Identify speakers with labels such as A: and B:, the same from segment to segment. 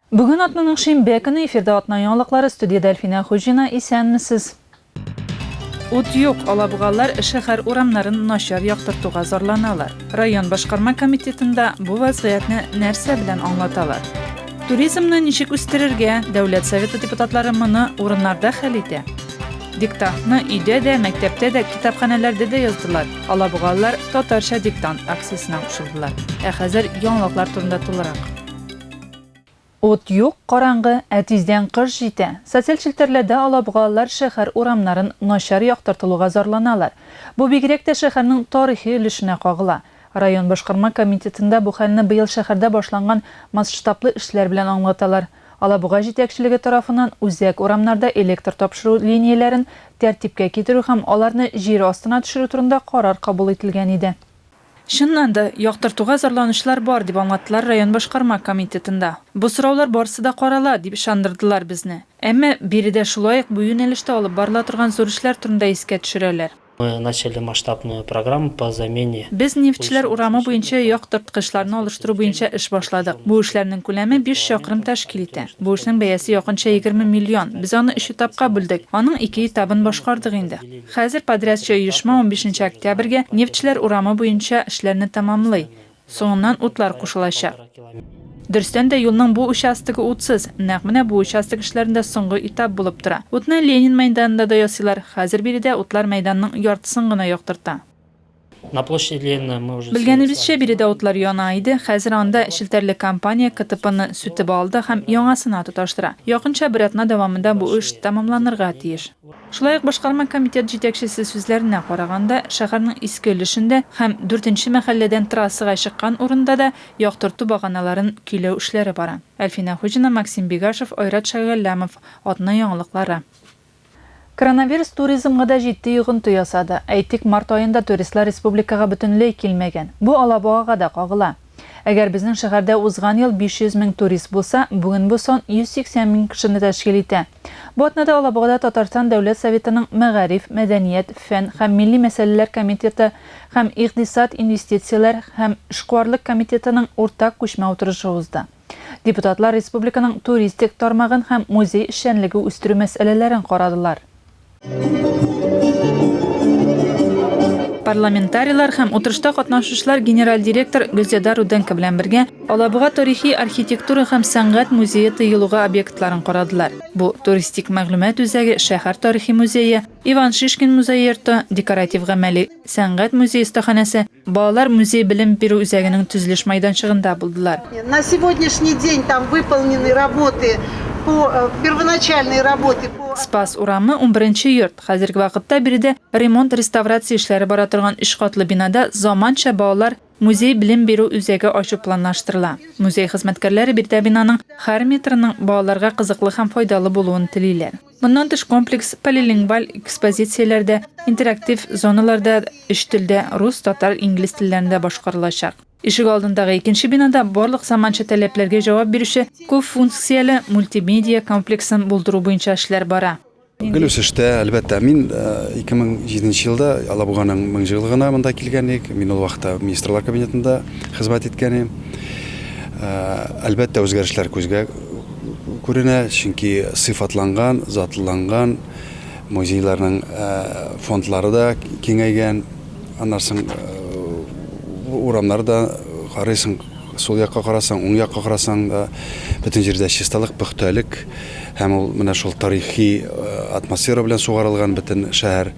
A: Бүген атнаның шимбе көне эфирда атна яңалыклары студиядә Әлфинә Хуҗина исәнмесез. Ут юк, алабугалар шәһәр урамнарын начар яктыртуга зарланалар. Район башкарма комитетында бу вазгыятьне нәрсә белән аңлаталар? Туризмны ничек үстерергә? Дәүләт Советы депутатлары моны урыннарда хәл итә. Диктантны өйдә дә, мәктәптә дә, китапханәләрдә дә яздылар. Алабугалылар татарча диктант акциясенә кушылдылар. Ә хәзер яңалыклар турында тулырак. Ут юк, караңгы, ә тиздән кыш җитә. Социаль челтәрләрдә алабугалылар шәһәр урамнарын начар яктыртылуга зарланалар. Бу бигрәк тә шәһәрнең тарихи өлешенә кагыла. Район башкарма комитетында бу хәлне быел шәһәрдә башланган масштаблы эшләр белән аңлаталар. Алабуга җитәкчелеге тарафыннан үзәк урамнарда электр тапшыру линияләрен тәртипкә китерү һәм аларны җир астына төшерү турында карар кабул ителгән иде. Чыннан да, яктыртуга зарланучылар бар, дип аңлаттылар район башкарма комитетында. Бу сораулар барысы да карала, дип ышандырдылар безне. Әмма биредә шулай ук бу юнәлештә алып барыла торган зур эшләр турында искә төшерәләр. Мы начали
B: масштабную программу по замене. Без Нефтьчеләр
A: урамы буенча яктырткычларны алыштыру буенча эш башладык. Бу эшләрнең күләме биш чакрым тәшкил итә. Бу эшнең бәясе якынча егерме миллион. Без аны өч этапка бүлдек. Аның ике этабын башкардык инде. Хәзер подрядчы оешма унбишенче октябрьгә Нефтьчеләр урамы буенча эшләрне тәмамлый. Соңыннан утлар кушылачак. Дөрестән дә, юлның бу участогы утсыз. Нәкъ менә бу участок эшләрендә соңгы этап булып тора. Утны Ленин мәйданында да ясыйлар. Хәзер биредә утлар мәйданның яртысын гына яктырта.
B: Белгәнебезчә, биредә утлар
A: яна иде, хәзер анда челтәрле компания КТПны сүтеп алды һәм яңасына тоташтыра. Якынча бер атна дәвамында бу эш тәмамланырга тиеш. Шулай ук башкарма комитет җитәкчесе сүзләренә караганда, шәһәрнең иске өлешендә һәм дүртенче мәхәлләдән трассага чыккан урында да яктырту баганаларын көйләү эшләре бара. Әлфинә Хуҗина, Максим Бигашев, Айрат Шәйгалләмов, Атна яңалыклары. Коронавирус туризмга да җитди йогынты ясады. Әйтик, март аенда туристлар республикага бөтенләй килмәгән. Бу Алабугага да кагыла. Әгәр безнең шәһәрдә узган ел 500 мең турист булса, бүген бу сан 180 мең кешене тәшкил итә. Бу атнада Алабугада Татарстан Дәүләт Советының Мәгариф, мәдәният, фән һәм милли мәсьәләләр комитеты һәм Икъдисад, инвестицияләр һәм эшкуарлык комитетының уртак күчмә утырышы узды. Депутатлар республиканың туристик тармагын һәм музей эшчәнлеге үстерү мәсьәләләрен карадылар. Парламентарийлар һәм утырышта катнашучылар генераль директор Гөлзада Руденко белән бергә Алабуга тарихи архитектура һәм сәнгать музее тыелуга объектларын карадылар. Бу туристик мәгълүмат үзәге, шәһәр тарихи музее, Иван Шишкин музей йорты, декоратив гамәли Сәнгать музей остаханәсе, балалар музей белем бирү үзәгенең төзелеш майданчыгында булдылар. На сегодняшний
C: день там выполнены работы по первоначальной работы по. Спас урамы,
A: унберенче йорт, хәзерге вакытта биредә ремонт-реставрация эшләре бара торган өч катлы бинада заманча балалар Музей белем бирү үзәге ачу планлаштырыла. Музей хезмәткәрләре биредә бинаның һәр метрының балаларга кызыклы һәм файдалы булуын телиләр. Моннан тыш комплекс полилингваль экспозицияләр дә, интерактив зоналар да өч телдә, рус, татар, инглиз телләрендә башкарылачак. Ишегалдындагы икенче бинада барлык заманча таләпләргә җавап бирүче күпфункцияле мультимедиа комплексын булдыру буенча эшләр бара. Гел үсештә,
D: әлбәттә. Мин 2007 нче елда Алабуганың меңҗыллыгына монда килгән идек. Мин ул вакытта Министрлар Кабинетында хезмәт иткән идем. Әлбәттә, үзгәрешләр күзгә күренә, чөнки сыйфатланган, затлыланган, музейларның фондлары да киңәйгән. Аннан соң урамнар да карыйсың. Сул якка карасаң, уң якка карасаң да, бөтен җирдә чисталык, пөхтәлек һәм ул менә шул тарихи атмосфера белән сугарылган бөтен шәһәр.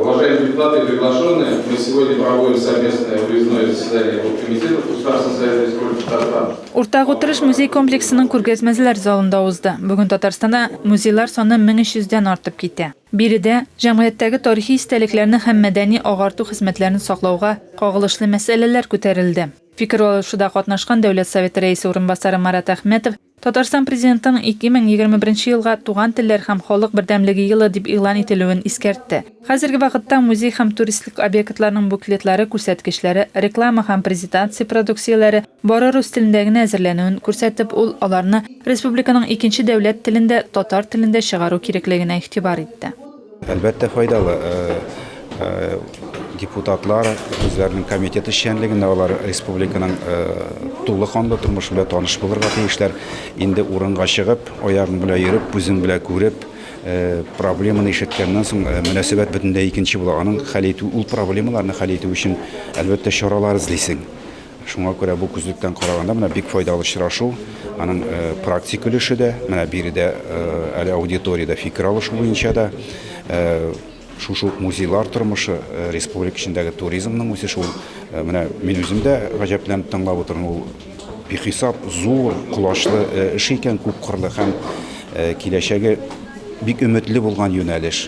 D: Уважаемые депутаты и приглашенные, мы
E: сегодня проводим совместное выездное заседание оргкомитета Государственного совета Республики Татарстан. Уртак утырыш музей
A: комплексының күргәзмәзләр залында узды. Бүген Татарстанда музейлар саны 1300 дән артып китә. Биредә, җәмгыятьтәге тарихи истәлекләрне һәм мәдәни-агарту хезмәтләрен саклауга кагылышлы мәсьәләләр күтәрелде. Фикер алышуда катнашкан Дәүләт Советы Рәисе урынбасары Марат Әхмәтов Татарстан Президентының 2021 елга Туган телләр һәм халык бердәмлеге елы дип игълан ителүен искәртте. Хәзерге вакытта музей һәм туристлык объектларының буклетлары күрсәткечләре, реклама һәм презитация продукцияләре бары рус телендә генә әзерләнүен күрсәтеп, ул аларны республиканың икенче дәүләт телендә, татар телендә чыгару кирәклегенә игътибар итте. Әлбәттә файдалы. Э,
D: э, депутатлар үзләренең комитет эшчәнлегендә алар республиканың э, тулы канлы тормыш белән таныш булырга тиешләр. Инде урынга чыгып, аягың белән йөреп, күзең белән күреп, проблеманы ишеткәннән соң мөнәсәбәт бөтенләй икенче була. Аның хәл итү, ул проблемаларны хәл итү өчен әлбәттә чаралар эзлисең. Шуңа күрә бу күзлектән караганда менә бик файдалы очрашу. Аның практик өлеше дә, менә биредә әле аудиториядә фикер алышу буенча да шушы ук музейлар тормышы, республика эчендәге туризмның үсеше ул менә мин үзем дә гаҗәпләнеп тыңлап утырам. Ул бихисап зур колачлы эш икән, күп кырлы һәм киләчәге бик өметле булган юнәлеш.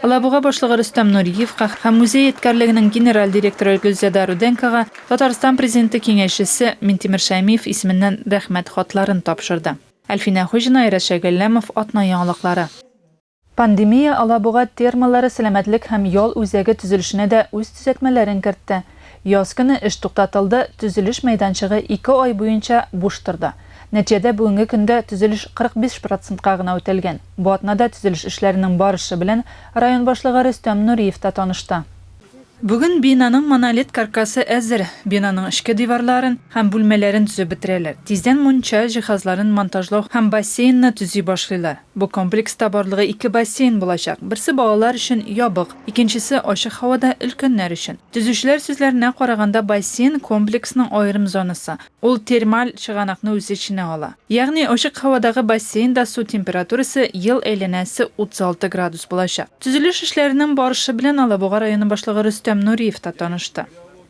A: Алабуга башлыгы Рөстәм Нуриевка һәм музей эткәрлегенең генераль директоры Гөлзада Руденкога Татарстан Президенты киңәшчесе Минтимер Шәймиев исеменнән Рәхмәт хатларын тапшырды. Әлфинә Хуҗина, Айрат Шәйгалләмов, Атна яңалыклары. Пандемия Алабуга термалары сәламәтлек һәм ял үзәге төзелешенә дә үз төзәтмәләрен кертте. Яз көне эш туктатылды, төзелеш мәйданчыгы ике ай буенча буш торды. Нәтиҗәдә бүгенге көндә төзелеш 45 процентка гына үтәлгән. Бу атнада төзелеш эшләренең барышы белән район башлыгы Рөстәм Нуриев та танышты. Бүген бинаның монолит каркасы әзер, бинаның эчке диварларын һәм бүлмәләрен төзеп бетерәләр. Тиздән мунча җиһазларын монтажлау һәм бассейнны төзи башлыйлар. Бу комплекста барлыгы ике бассейн булачак, берсе балалар өчен ябык, икенчесе ачык һавада өлкәннәр өчен. Төзүчеләр сүзләренә караганда, бассейн, комплексның аерым зонасы. Ул термаль чыганакны үз эченә ала. Ягъни ачык һавадагы бассейнда су температурасы ел әйләнәсе 36 градус булачак. Төзелеш эшләренең барышы белән Алабуга районы башлыгы Рөстәм Нуриев та танышты.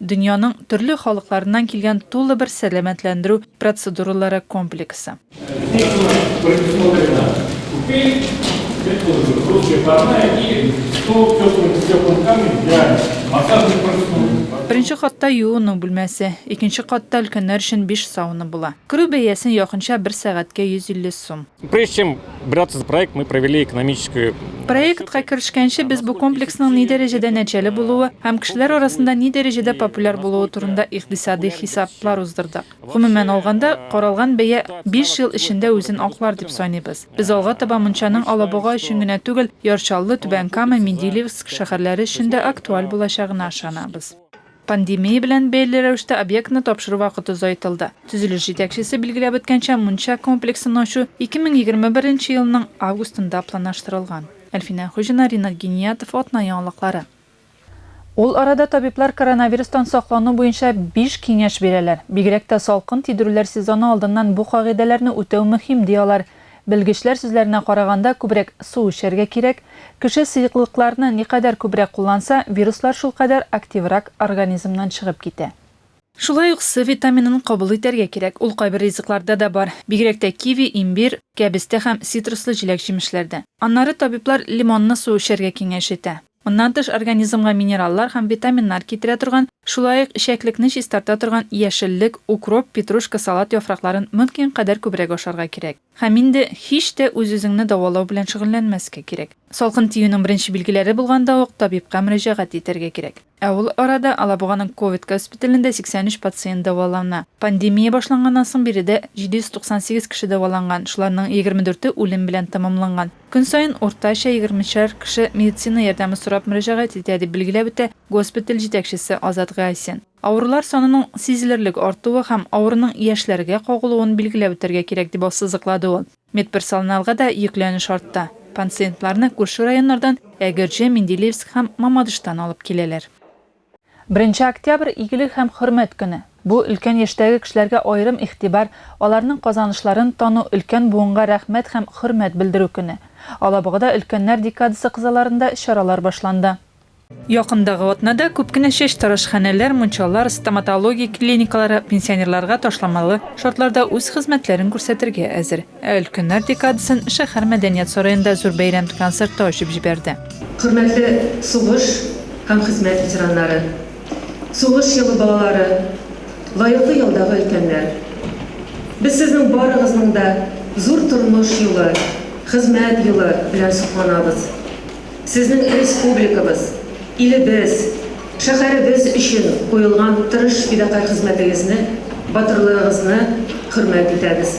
A: Дөньяның төрле халыкларыннан килгән тулы бер сәламәтләндерү процедуралары комплексы. Беренче катта юыну бүлмәсе, икенче катта өлкәннәр өчен биш сауна була. Керү бәясен якынча бер сәгатькә 150 сум. Прежде чем
F: браться за проект, мы провели экономическую Проектка
A: керешкәнче без бу комплексның ни дәрәҗәдә нәтиҗәле булуы һәм кешеләр арасында ни дәрәҗәдә популяр булуы турында икътисади хисаплар уздырдык. Гомумән алганда, каралган бәя 5 ел эчендә үзен аклар дип саныйбыз. Без алга таба мунчаның Алабуга өчен генә түгел, Яр Чаллы, Түбән Кама, Менделеевск шәһәрләре өчен дә актуаль булачагына ышанабыз. Пандемия белән бәйле рәвештә объектны тапшыру вакыты озайтылды. Төзелеш җитәкчесе билгеләп үткәнчә, мунча комплексын ачу 2021 нче елның августында планаштырылган. Әлфинә Хуҗина, Ринат Гиниятов, Атна яңалыклары. Ул арада табиблар коронавирустан саклану буенча биш киңәш бирәләр. Бигрәк тә салкын тидерүләр сезоны алдыннан бу кагыйдәләрне үтәү мөһим, ди алар. Белгечләр сүзләренә караганда, күбрәк су эчәргә кирәк. Кеше сыеклыкларны никадәр күбрәк кулланса, вируслар шулкадәр активрак организмнан чыгып китә. Шулай ук С витаминын кабул итәргә кирәк. Ул кайбер ризыкларда да бар, бигрәк тә киви, имбир, кәбестә һәм цитруслы җиләк-җимешләрдә. Аннары табиблар лимонны су эчәргә киңәш итә. Моннан тыш организмга минераллар һәм витаминнар китерә торган, шулай ук эчәклекне чистарта торган яшеллек, укроп, петрушка, салат яфракларын мөмкин кадәр күбрәк ашарга кирәк. Һәм инде һич тә үз-үзеңне дәвалау белән шөгыльләнмәскә кирәк. Салкын тиюнең беренче билгеләре булганда ук табибка мөрәҗәгать итәргә кирәк. Ә ул арада Алабуганың ковид госпиталендә 83 пациент дәвалана. Пандемия башланганнан соң биредә 798 кеше дәваланган, шуларның 24 е үлем белән тәмамланган. Көн саен уртача егермешәр кеше медицина ярдәме сорап мөрәҗәгать итә, дип билгеләп үтә госпиталь җитәкчесе Азат Гайсин. Авырулар санының сизелерлек артуы һәм авыруның яшьләргә кагылуын билгеләп үтәргә кирәк, дип ассызыклады ул. Медперсолналга да йөкләнеш артты. Панциентларны күрше районнардан, Әгерҗе, Менделеевск һәм Мамадыштан алып киләләр. Беренче октябрь, игелек һәм хөрмәт көне. Бу, өлкән яшьтәге кешеләргә аерым игътибар, аларның казанышларын тану, өлкән буынга рәхмәт һәм хөрмәт белдерү көне. Алабугада Өлкәннәр декадасы кысаларында чаралар башланды. Якындагы атнада күп кенә чәчтарашханәләр, мунчалар, стоматология клиникалары пенсионерларга ташламалы шартларда үз хезмәтләрен күрсәтергә әзер. Ә Өлкәннәр декадасын шәһәр мәдәният сараенда зур бәйрәм концерты ачып җибәрде. Хөрмәтле
G: сугыш һәм хезмәт ветераннары, сугыш елы балалары, лаеклы ялдагы өлкәннәр! Без сезнең барыгызның да зур тормыш юлы, хезмәт елы белән сокланабыз. Сезнең республикабыз, илебез, шәһәребез өчен куелган тырыш фидакарь хезмәтегезне, батырлыгыгызны хөрмәт итәбез.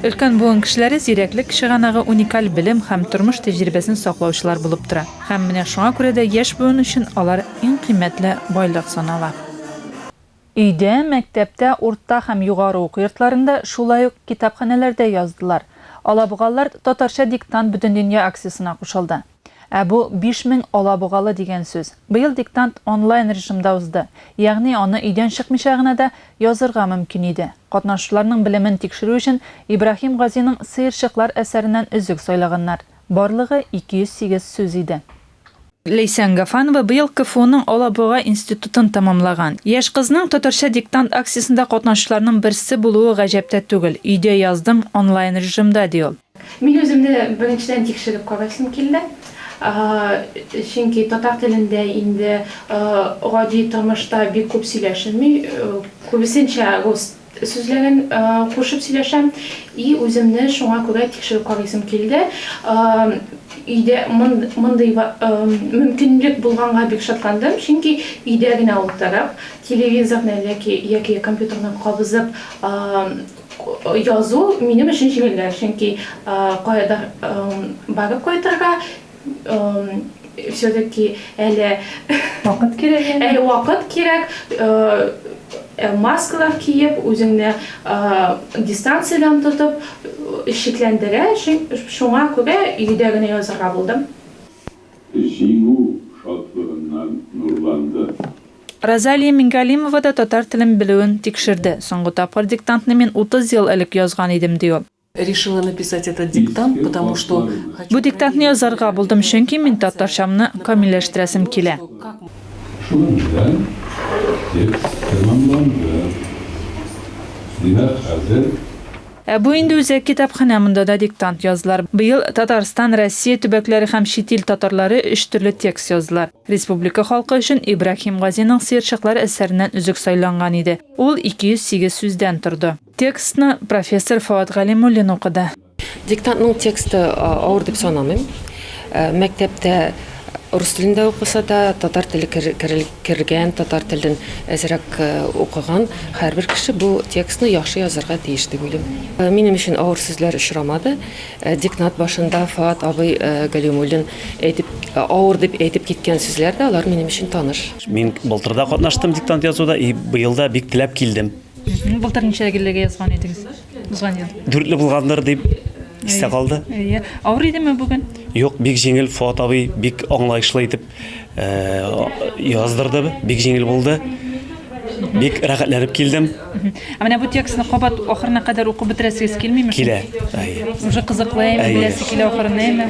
A: Өлкән буын кешеләре зирәклек чыганагы уникаль белем һәм тормыш тәҗрибәсен саклаучылар булып тора. Һәм менә шуңа күрә дә яшь буын өчен алар иң кыйммәтле байлык санала. Өйдә, мәктәптә, урта һәм югары уку йортларында, шулай ук китапханәләрдә яздылар. Алабугалард татарча диктант Бөтендөнья акциясенә кушылды. Ә бу, биш мең алабугалы дигән сүз. Быел диктант онлайн режимда узды, ягъни аны өйдән чыкмыйча гына да язырга мөмкин иде. Катнашучыларның белемен тикшерү өчен Ибраһим Газиның Сыерчыклар әсәреннән өзек сайлаганнар. Барлыгы 208 сүз иде. Ләйсән Гафанова быел КФУның Алабуга институтын тәмамлаган. Яшь кызның татарча диктант акциясендә катнашучыларның берсе булуы гаҗәп тә түгел. Өйдә яздым, онлайн режимда, ди ул. Мин үземне
H: беренчедән тикшереп карыйсым килде. Чөнки татар телендә инде гади тормышта бик күп сөйләшелми, күбесенчә рус. Сүзләрен кушып сөйләшәм. И үземне шуңа күрә тикшереп карыйсым килде. Өйдә мондый мөмкинлек булганга бик шатландым, чөнки өйдә генә утырып, телевизорны яки компьютерны кабызып язу минем өчен җиңелрәк, чөнки каядыр барып кайтырга, Все-таки әле...
A: Вакыт кирәк. Әле вакыт кирәк. Э, маскалар киеп, үзеңне э, дистанциядән тотып, э, шикләндерә, шуңа күрә өйдә генә язырга булдым. Җиңү
I: шатлыгыннан нурланды. Розалия
A: Мингалимова да татар телен белүен тикшерде. Соңгы тапкыр диктантны мин 30 ел элек язган идем, ди ул. Решила написать
J: этот диктант, потому что хочу. Бу диктантны
A: язарга булдым, чөнки мин татарчамны камилләштерәсем килә. Шуның
I: белән текст тәмамланды. Димәк, хәзер. Ә бу
A: инде үзәк китапханә, монда да диктант яздылар. Быел Татарстан, Россия төбәкләре һәм чит ил татарлары өч төрле текст яздылар. Республика халкы өчен Ибраһим Газиның Сыерчыклар әсәреннән өзек сайланган иде. Ул 208 сүздән торды. Текстны профессор Фоат Галимуллин укыды.
J: Диктантның тексты авыр дип санамыйм. Мәктәптә
K: рус телендә укыса да, татар теле кергән, татар телен әзрәк укыган һәрбер кеше бу текстны яхшы язарга тиеш дип уйлыйм. Минем өчен авыр сүзләр очрамады. Диктант башында Фоат абый Галимуллин әйтеп, авыр дип әйтеп киткән сүзләр дә, алар минем өчен таныш. Мин былтыр да
L: катнаштым диктант язуда и быел да бик теләп килдем. Былтыр ничә
A: гелләгә язган идегез? Узган ел. Дүртле
L: булгандыр дип истә калды. Әйе. Авыр идеме
A: бүген? Юк, бик җиңел
L: Фуат абый бик аңлаешлы итеп э, яздырды. Бик җиңел булды. Бик рәхәтләнеп килдем. Ә менә бу текстны
A: кабат ахырына кадәр укып бетерәсегез килмиме? Килә.
L: Әйе. Уже кызыклы
A: әйме, Әйе. беләсе килә ахырына әйме?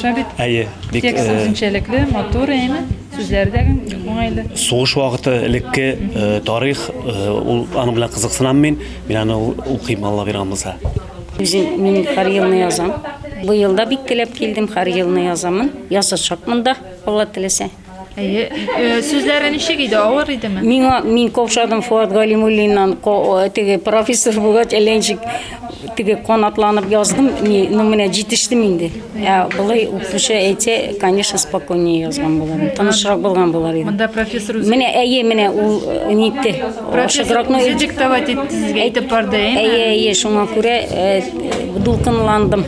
A: Шәбит. Әйе. Бик Текст э, үзенчәлекле, матур әйме? Сүзләре дә бик уңайлы. Сугыш вакыты
L: элекке э, тарих, э, ул аның белән кызыксынам мин. Мин аны укыйм Алла биргән булса. Үзем мин
M: һәр елны язам. Бу елда бик теләп килдем, һәр елны язамын. Язачакмын да, Алла теләсә. Әйе. Э,
A: Сүзләре ничек иде? Авыр идеме? Миңа мин каушадым
M: Фуат Галимуллиннан ко- теге профессор булгач, әллә ничек Теге канатланып яздым, не, ну менә җитештем инде. Ә былай укучы әйтсә, конечно, спокойнее язган буларым. Тынычрак булган булар иде. Монда профессор үзе Менә
A: әйе, менә ул
M: э, нитте. профессор Шыгракны үзе
A: диктовать итте сезгә әйтеп барды, әйеме? Әйе, әйе, шуңа
M: күрә э, дулкынландым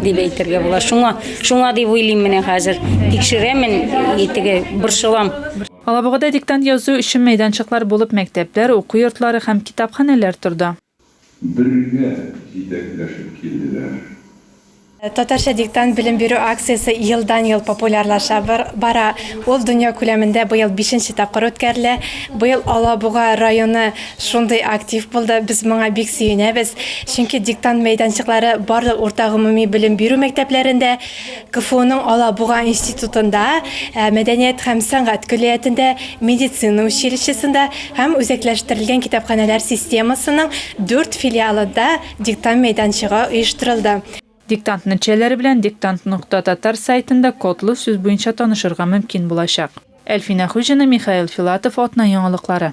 M: дип әйтергә була. Шуңа, шуңа дип уйлыйм менә хәзер. Тикшерәмен, и теге борчылам. Алабугада
A: диктант язу өчен мәйданчыклар булып мәктәпләр, уку йортлары һәм китапханәләр торды. Бергә
I: җитәкләшеп килделәр.
N: Татарча диктант белем бирү акциясе елдан-ел популярлаша бара. Ул дөнья күләмендә быел бишенче тапкыр үткәрелә. Быел Алабуга районы шундый актив булды, без моңа бик сөенәбез. Чөнки диктант мәйданчыклары барлык урта гомуми белем бирү мәктәпләрендә, КФУның Алабуга институтында, мәдәният һәм сәнгать көллиятендә, медицина училищесында һәм үзәкләштерелгән китапханәләр системасының дүрт филиалында диктант мәйданчыгы оештырылды. Диктант
A: нәтиҗәләре белән Диктант нокта татар сайтында кодлы сүз буенча танышырга мөмкин булачак. Әлфинә Хуҗина, Михаил Филатов, Атна яңалыклары.